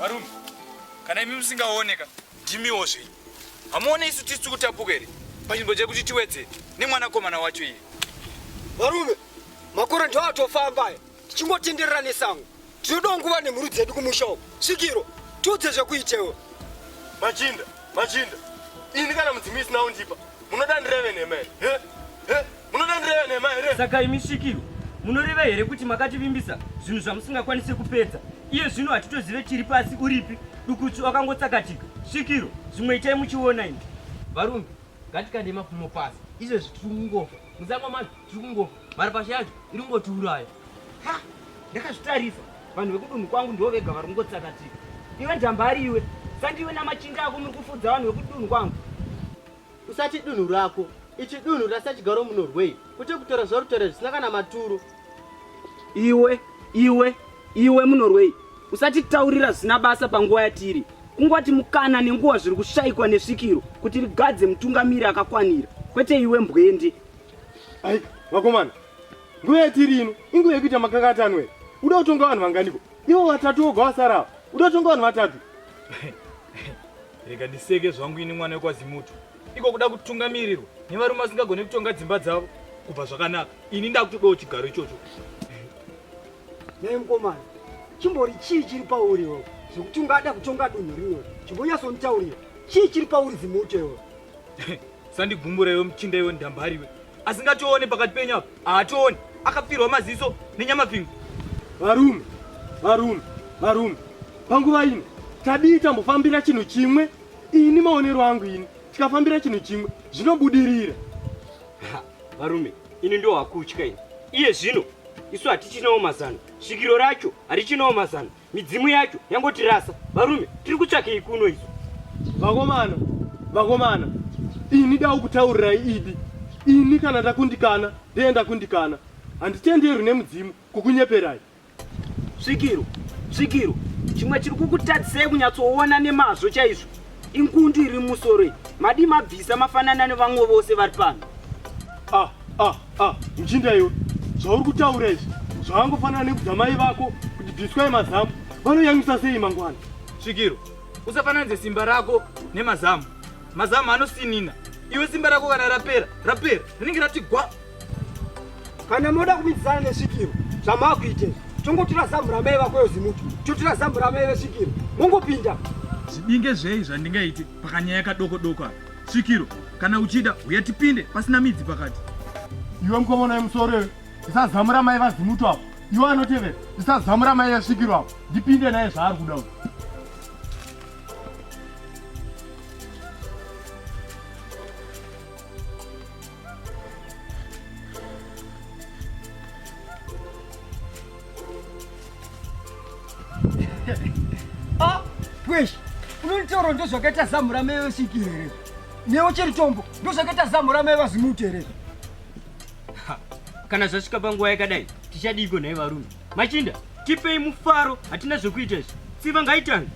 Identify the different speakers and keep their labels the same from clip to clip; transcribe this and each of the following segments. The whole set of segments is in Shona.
Speaker 1: varume kana imi musingaoneka ndimiwo zvei hamuone isu tisi tikutapuka here panzvimbo dzekuti tiwedze nemwanakomana wacho iye varume
Speaker 2: makore ndiwo atofamba aya tichingotenderera nesango tinodawo nguva nemhuri dzedu kumusha uku svikiro tiudze zvekuitewo machinda
Speaker 3: machinda ini kana mudzimi isina undipa munoda ndireve nhema here munoda ndireve nhema here saka imi svikiro
Speaker 4: munoreva here kuti makativimbisa zvinhu zvamusingakwanise kupedza iye zvino hatitozive chiri pasi uripi dukutsu akangotsakatika svikiro zvimwe itai muchiona ini varumbi
Speaker 5: ngatikande mapfumo pasi izvezvi tiri kungofa musango macho tiri kungofa Mari pasha yacho iri kungotiuraya. Ha!
Speaker 4: Ndakazvitarisa. Vanhu vekudunhu kwangu ndivo vega vari kungotsakatika. Iwe njambari iwe. Sandiwe namachinda ako muri kufudza vanhu vekudunhu kwangu. Usati
Speaker 5: dunhu rako. Ichi dunhu rasachigaro munorwei. Kuti kutora zvarutora zvisina kana maturo. Iwe, iwe,
Speaker 4: iwe munorwei. Usati taurira zvisina basa panguva yatiri. Kungwati mukana nenguva zviri kushaikwa nesvikiro kuti rigadze mutungamiri akakwanira. Kwete iwe mbwendi. Ai,
Speaker 3: vakomana. Nguva yatiri ino, inguva yekuita makakata anwe. Uda kutonga vanhu vanganiko? Ivo vatatu voga vasara ava. Uda kutonga vanhu vatatu. Rega
Speaker 1: ndiseke zvangu ini mwana wekwaZimutu. Iko kuda kutungamirirwa nevarume vasingagone kutonga dzimba dzavo kubva zvakanaka. Ini ndakutodawo chigaro ichocho.
Speaker 2: Nhai mukomana, chimbori chii chiri pauri iwe zvekuti ungada kutonga dunhu rimwe? Chimbonyatsonditaurira. Chii chiri pauri Zimutu iwe?
Speaker 1: sandigumura iwe muchinda iwe ndambari iwe asingatoone pakati penyu apa haatooni akapfirwa maziso nenyamapingu varume varume
Speaker 3: varume panguva ino tadii tambofambira chinhu chimwe ini maonero angu ini tikafambira chinhu chimwe zvinobudirira
Speaker 4: varume ini ndo hakutya ini iye zvino isu hatichinawo mazano svikiro racho harichinawo mazano midzimu yacho yangotirasa varume tiri kutsvakei kuno isu vakomana
Speaker 3: vakomana ini dau kutaurirai idi ini kana ndakundikana ndee ndakundikana handitenderwi nemudzimu kukunyeperai
Speaker 4: svikiro svikiro chimwe chiri kukutadzisei kunyatsoona nemazvo chaizvo inkundu iri musoro madi mabvisa mafanana nevamwe vose vari pano ah, ah, ah.
Speaker 3: mchinda iwe zvauri kutaura izvi zvavangofanana nekudza mai vako kuti bviswai mazamu vanoyamisa sei mangwana svikiro
Speaker 1: usafananidze simba rako nemazamu mazamu anosinina iwe simba rako kana rapera rapera rinenge rati gwa
Speaker 2: kana moda kumidzana nesvikiro zvamakuita tongotora zambu ramai vako yozimuti totora zambu ramai vesvikiro mongopinda zvidinge
Speaker 1: zvei zvandingaite pakanyaya kadoko doko apa svikiro kana uchida uya tipinde pasina midzi pakati iwe mukomana
Speaker 3: yemusoro ndisazamu ramai vazimutu apo iwe anotevera ndisazamu ramai yasvikiro apo ndipinde naye zvaari kuda uyu
Speaker 2: ah, pweshi unonitaura ndozvakaita zamu ramai vasiki here newo chiri chombo ndozvakaita zamu ramai vazimuti here
Speaker 4: kana zvasvika panguva yakadai tichadiiko nhai varume machinda tipei mufaro hatina zvekuita izvi tsiva ngaitange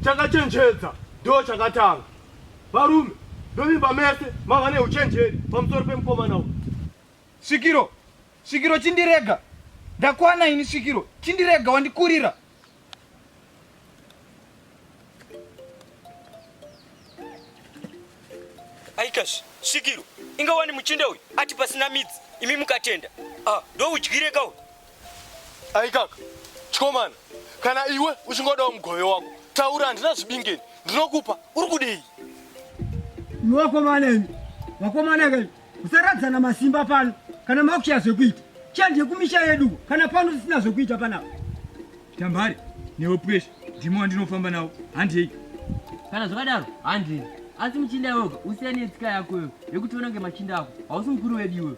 Speaker 3: chakachenjedza ndo chakatanga varume ndovimba mese mava neuchenjeri pamusoro pemukomana u svikiro Svikiro
Speaker 1: chindirega ndakwana ini svikiro chindirega wandikurira
Speaker 4: aikash svikiro inga wani muchinda uyu ati pasina midzi imi mukatenda ah, ndoudyire ka uyu
Speaker 3: aikaka chikomana kana iwe uchingodawo mugove wako taura handina zvibingeni ndinokupa uri kudei iwakomana imi
Speaker 2: vakomana kai Musaradzana masimba pano kana makushaya zvekuita. Chanje kumisha yedu kana pano tisina zvekuita panapa. Tambare
Speaker 1: newe pressure ndimo wandinofamba nawo handei. Kana
Speaker 5: zvakadaro handei. Asi muchinda iwewe usiyane netsika yako iwewe yekuti unenge machinda ako. Hausi mukuru wedu iwewe.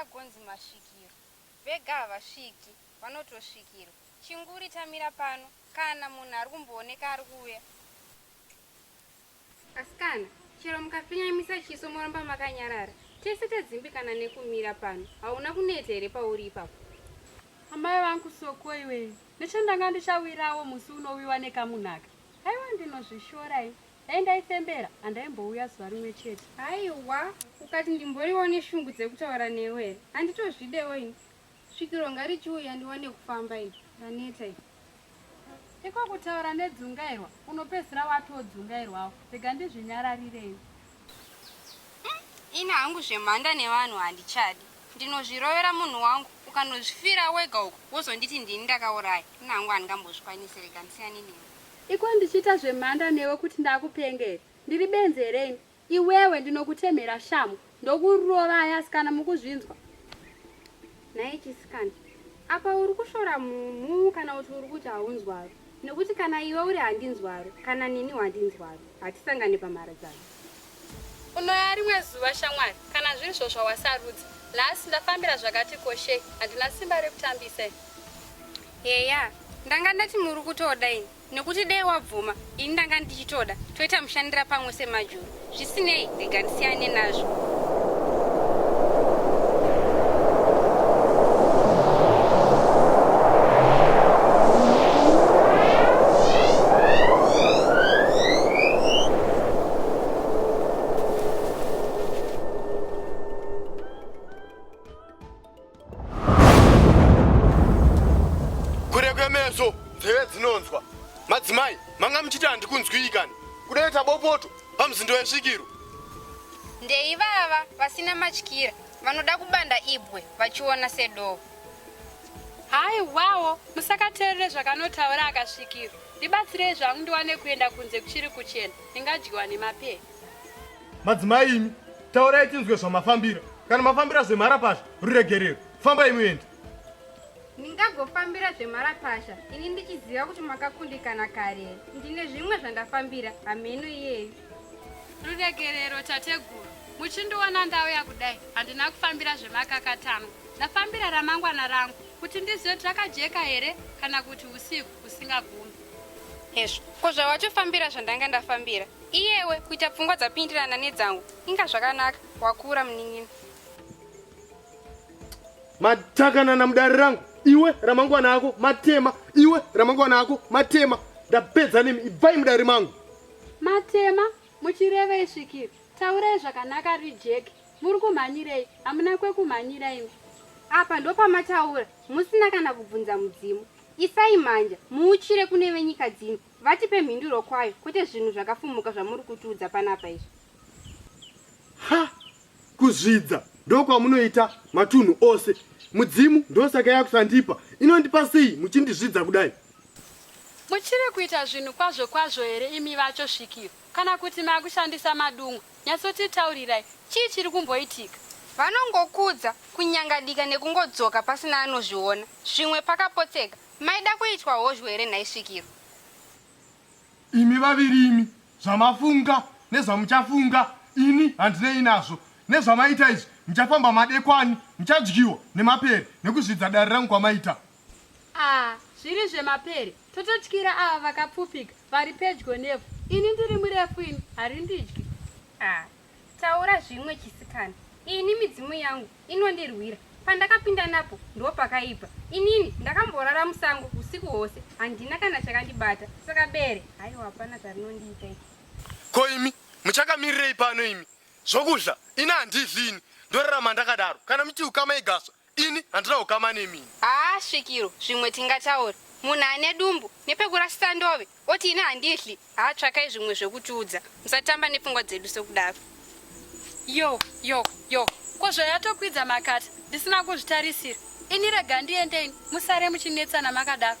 Speaker 6: agonzi masvikiro vega havasviki vanotosvikirwa chinguri tamira pano kana munhu ari kumbooneka ari kuuya Asikana, chero mukafinyamisa chiso moramba makanyarara, tese tadzimbikana nekumira pano. Hauna kuneta here pauri ipapo? Amai
Speaker 7: vangu soko iwe, nechandanga ndichawirawo musi unowiwa nekamunhaka. Haiwa ndinozvishora ini. Dai ndaifembera handaimbouya zuva rimwe chete. Haiwa,
Speaker 6: ukati ndimboriwo neshungu dzekutaura newe here? Handitozvidewo ini. Svikiro ngarichiuya ndiwane kufamba iri raneta iri. Iko
Speaker 7: kutaura nedzungairwa unopedzisira watodzungairwawo rega ndizvinyararirei. Umm
Speaker 6: ini hangu zvemhanda nevanhu handichadi ndinozvirovera munhu wangu ukanozvifira wega uko wozonditi ndini ndakauraya ini hangu handingambozvikwanise rega ndisiyane newe. Iko ndichiita
Speaker 7: zvemhanda newe kuti ndakupenge here ndiri benzi here ini Iwewe ndinokutemhera shamhu ndokurovai asikana mukuzvinzwa.
Speaker 6: Nhai chisikana apa uri kushora mhumhu kana kuti uri kuti haunzwaro nekuti kana iwe uri handinzwaro kana nini wandinzwaro hatisangane pamharadzano.
Speaker 7: Unoya rimwe zuva shamwari kana zviri zvo zvawasarudza nhasi ndafambira zvakati koshei handina simba rekutambisa.
Speaker 6: Heya ndanga ndati muri kutoda ini. nekuti dei wabvuma ini ndanga ndichitoda toita mushandira pamwe semajuru zvisinei rega ndisiyane nazvo
Speaker 3: kure kwemeso nzeve dzinonzwa madzimai manga muchiti handikunzwikani kunoita bopoto pamuzindo wesvikiro
Speaker 6: ndeivava vasina matyira vanoda kubanda ibwe vachiona sedoo hayi
Speaker 7: wawo musakateerere zvakanotaura akasvikirwa ndibatsirei zvangu ndiwane kuenda kunze kuchiri kuchena ndingadyiwa nemapee madzimai
Speaker 3: imi taurai tinzwe zvamafambira kana mafambira zvemharapasha ruregerero fambai muende ndingagofambira
Speaker 6: zvemharapasha ini ndichiziva kuti makakundikana kare ndine zvimwe zvandafambira hameno iyeyu ruregerero
Speaker 7: tateguru muchindiona ndauya kudai handina kufambira zvemakakatanwa ndafambira ramangwana rangu kuti ndizive kuti rakajeka here kana kuti usiku usingagumi hezvo
Speaker 6: ko zvawatofambira zvandanga ndafambira Iyewe kuita pfungwa dzapindirana nedzangu inga zvakanaka wakura munin'ina.
Speaker 3: Matakanana mudare rangu iwe ramangwana ako matema iwe ramangwana ako matema ndapedza nemi ibvai mudare mangu. Matema
Speaker 7: muchirevei svikiri taurai zvakanaka rijeki muri kumhanyirei hamuna kwekumhanyira imi. Apa
Speaker 6: ndopamataura musina kana kubvunza mudzimu. Isai mhanja muuchire kune venyika dzino Vatipe mhinduro kwayo kwete zvinhu zvakafumuka zvamuri kutiudza panapa izvi.
Speaker 3: Ha! Kuzvidza ndokwamunoita matunhu ose. Mudzimu ndosaka yakusandipa. Inondipa sei muchindizvidza kudai? Muchiri
Speaker 7: kuita zvinhu kwazvo kwazvo here imi vacho svikiro kana kuti makushandisa madungwe? Nyatsotitaurirai chii chiri kumboitika? Vanongokudza,
Speaker 6: kunyangadika nekungodzoka pasina anozviona. Zvimwe pakapotseka. Maida kuitwa hozhwe here nhai svikiro?
Speaker 3: Imi vaviri imi zvamafunga nezvamuchafunga ini handinei nazvo. Nezvamaita izvi muchafamba madekwani muchadyiwa nemapere nekuzvidza
Speaker 7: dare rangu
Speaker 3: kwamaita. Ah
Speaker 7: zviri
Speaker 3: zvemapere
Speaker 7: tototyira ava vakapfupika vari pedyo nevhu ini ndiri murefu ini harindidyi ah.
Speaker 6: Taura zvimwe chisikana. Ini midzimu yangu inondirwira. Pandakapinda napo ndopakaipa. Inini ndakamborara musango usiku hwose handina kana chakandibata. Saka bere haiwa hapana zvarinondiita ii. Ko imi
Speaker 3: muchakamirirei pano imi zvokudla ini handidli ini ndorarama ndakadaro kana muti ukama igaswa Ini handina ukama nemi ini. Haa svikiro
Speaker 6: zvimwe tingataure. Munhu ane dumbu nepekurasisa ndove oti ini handidhli haa tsvakai zvimwe zvekutiudza musatamba nepfungwa dzedu sekudaro. Yo
Speaker 7: yo yo ko zvayatokwidza makata ndisina kuzvitarisira ini rega ndiende ini musare muchinetsana makadaro.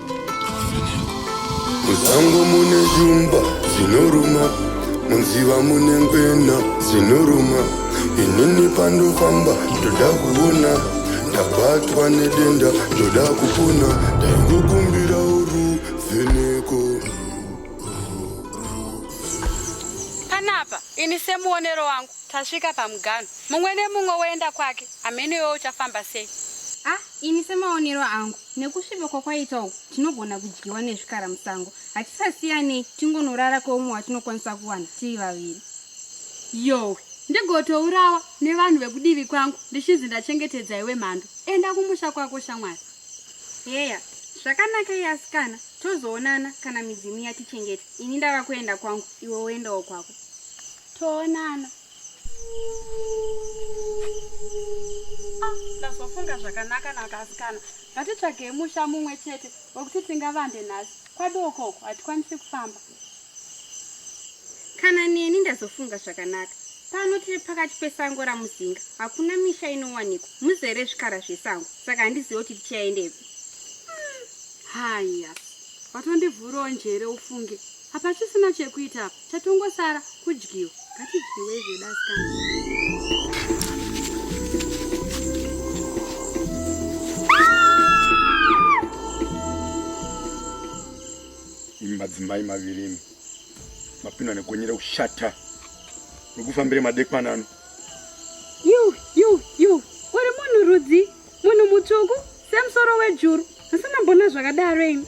Speaker 8: Musango mune shumba dzinoruma, munziva mune ngwena dzinoruma. Inini pandofamba ndoda kuona, ndabatwa nedenda ndoda kupona, ndaingokumbira uruvheneko.
Speaker 7: Panapa ini semuonero wangu tasvika pamuganho, mumwe nemumwe woenda kwake, hameno iwe uchafamba sei? Ah, ini
Speaker 6: semaonero angu Nekusviba kwakwaita uku, tinogona kudyiwa nezvikara musango. Hatisasiyanei, tingonorara kweumwe watinokwanisa kuwana tiri vaviri. Yowe,
Speaker 7: ndigotourawa nevanhu vekudivi kwangu ndichinzi ndachengetedza iwe mhando. Enda kumusha kwako shamwari. Heya,
Speaker 6: zvakanaka iye asikana, tozoonana kana midzimu yatichengeta. Ini ndava kuenda kwangu, iwe woendawo kwako. Toonana.
Speaker 7: Ah, ndazofunga zvakanaka nakasikana ngatitsvagei musha mumwe chete wekuti tingavande nhasi kwadookoko hatikwanisi kufamba
Speaker 6: kana neni ndazofunga zvakanaka pano tiri pakati pesango ramuzinga hakuna misha inowanikwa muzere zvikara zvesango saka handizive kuti tichaendepi hmm, haya
Speaker 7: vatondivhurawo njere ufunge hapachisina chekuita apa Chatongosara kudyiwa. Ngatidyiwe zvedu asikana.
Speaker 3: Imi madzimai maviri imi mapindwa nekonyera kushata wekufambira madekwana ano. Yu yu
Speaker 7: yu uri munhu rudzi munhu mutsvuku semusoro wejuru asi nambona zvakadaro imi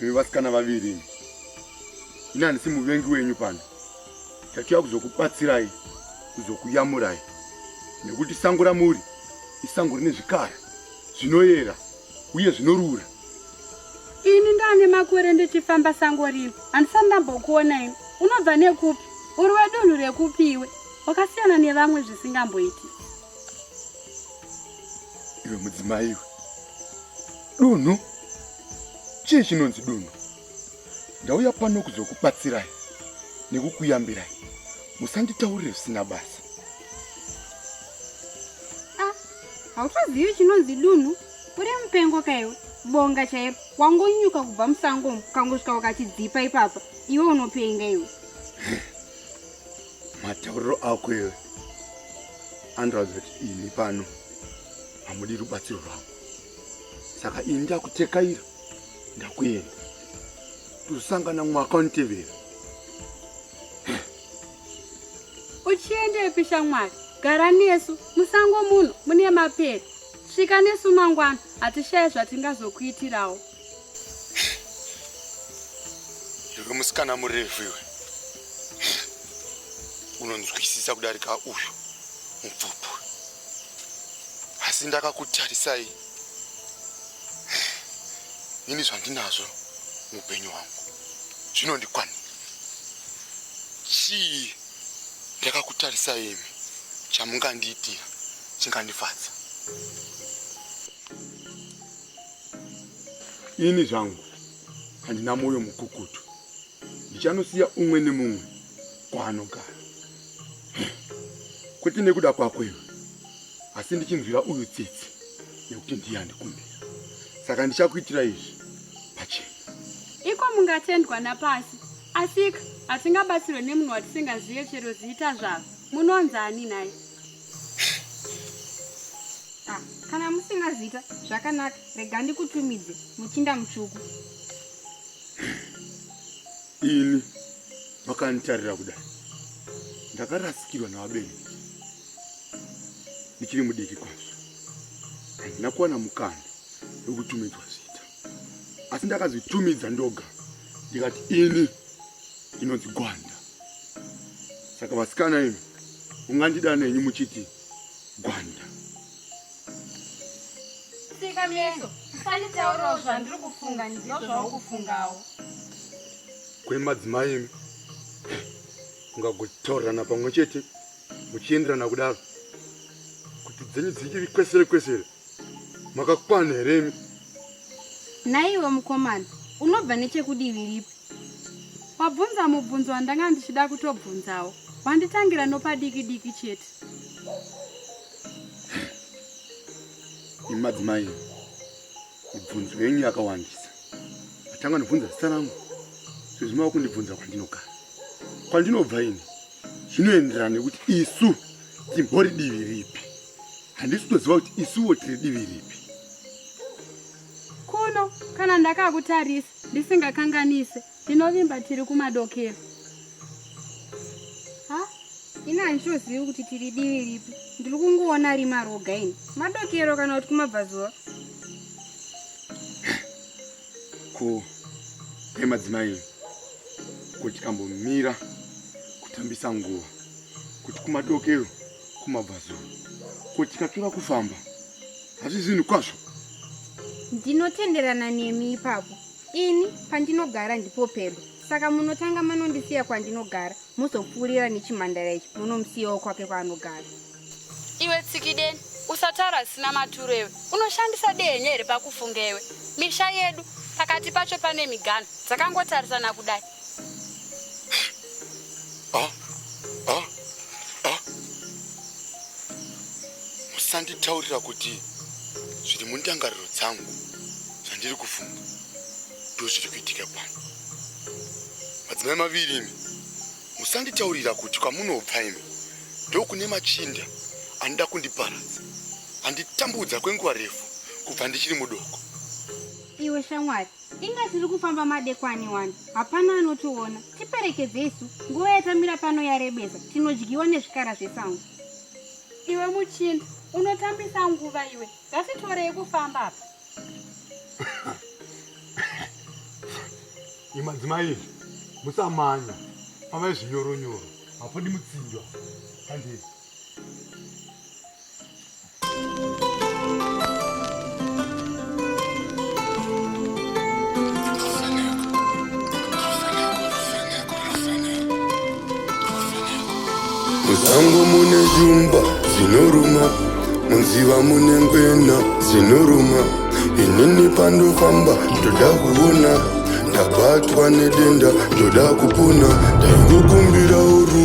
Speaker 3: Imi vasikana vaviri imi. Ini handisi muvengi wenyu pano. Tachiya kuzokubatsirai, kuzokuyamurai. Nekuti sango ramuri isango rine zvikara zvinoyera uye zvinorura.
Speaker 7: Ini ndane makore ndichifamba sango rino. Handisati ndambokuona ini. Unobva nekupi? Uri wedunhu rekupi iwe? Wakasiyana nevamwe zvisingamboiti.
Speaker 3: Iwe mudzimai iwe. Dunhu. Chii chinonzi dunhu? Ndauya pano kuzokubatsirai nekukuyambirai. Musanditaurire zvisina basa.
Speaker 6: Ah, hautozivi chinonzi dunhu? Uri mupengo kaiwe. Bonga chairo. Wangonyuka kubva musango umu, kangosvika wakachidzipa ipapa. Iwe unopenga iwe.
Speaker 3: matauriro ako iwe andiratidza kuti ini pano hamudi rubatsiro rwako saka ini ndakutekaira ndakuenda tosangana mwaka unitevera
Speaker 7: uchiendepi shamwari gara nesu musango muno mune mapere svika nesu mangwana hatishaye zvatingazokuitirawo
Speaker 3: Iwe musikana murefu iwe unonzwisisa kudarika uyu mupfupu, asi ndakakutarisai ini zvandinazvo muupenyu hwangu zvinondikwanira. Chii ndakakutarisai imi chamungandiitira chingandifadza?
Speaker 8: ini zvangu handina mwoyo mukukutu ndichanosiya umwe nemumwe kwaanogara kwete nekuda kwako iwe asi ndichinzwira uyu tsitsi nekuti ndiye andikumbira saka ndichakuitira izvi pachena iko
Speaker 7: mungatendwa napasi asika hatingabatsirwe nemunhu watisingazive chero zita zvavo munonzi ani nhai
Speaker 6: Ah, kana musina zita zvakanaka rega ndikutumidze muchinda mutsvuku
Speaker 8: ini vakanditarira kudai ndakarasikirwa navabereki ndichiri mudiki kwazvo handina kuwana mukana wekutumidzwa zita asi ndakazitumidza ndoga ndikati ini inonzi gwanda Saka vasikana imi ungandida nenyu muchiti gwanda.
Speaker 6: Sika meso, usanditaurawo zvandiri kufunga ndiyo zvaukufungawo. Kuri madzimai
Speaker 8: imi ungagotaurirana pamwe chete muchienderana kudaro kuti dzenyu dzichiri kwesere kwesere. Makakwana here imi?
Speaker 7: Naiwe mukomana, unobva nechekudivi ripi? Wabvunza mubvunzo wandanga ndichida kutobvunzawo. Wanditangira nopadiki diki chete.
Speaker 8: Imi madzimai, mibvunzo yenyu yakawandisa. Matanga nobvunza zita rangu. Sezvo mava kundibvunza kwandinogara. Kwandinobva ini zvinoenderana nekuti isu timbori divi ripi. handisi kutoziva kuti isuwo tiri divi ripi
Speaker 7: kuno kana ndakakutarisa ndisingakanganise ndinovimba tiri kumadokero
Speaker 6: ha ini handichozivi kuti tiri divi ripi ndiri kungoona ari maroga ini madokero kana kuti kumabvazuva
Speaker 8: ko emadzimai kuti kambomira kutambisa nguva kuti kumadokero kumabvazuva ko tikatura kufamba hazvizi zvinhu kwazvo ndinotenderana
Speaker 6: nemi ipapo ini pandinogara ndipo pedo saka munotanga manondisiya kwandinogara mozopfuurira nechimhandara ichi munomusiyawo kwake kwaanogara iwe
Speaker 7: tsikideni usataura zvisina maturo iwe unoshandisa denye here pakufunga iwe misha yedu pakati pacho pane migano dzakangotarisana kudai Ah, ah, ah.
Speaker 8: Musanditaurira kuti zviri mundangariro dzangu zvandiri kufunga ndo zviri kuitika pano. Madzimai maviri imi, musanditaurira kuti kwamunobva imi ndokune machinda anoda kundiparadza anditambudza kwenguva refu kubva ndichiri mudoko. Iwe
Speaker 6: shamwari Inga tiri kufamba madekwani wani, hapana anotiona. Tiperekedze isu, nguva yatamira pano yarebesa, tinodyiwa nezvikara zvesango. Iwe
Speaker 7: muchinda, unotambisa nguva iwe, ngatitorei kufamba apa.
Speaker 8: Imadzimai izvi, musamanya, fambai zvinyoro nyoro, hapodi mutsinjwa. Handei. Musango mune jumba dzinoruma munziva mune ngwena dzinoruma inini pandofamba ndoda kuona ndabatwa nedenda ndoda kupona ndaingokumbira uru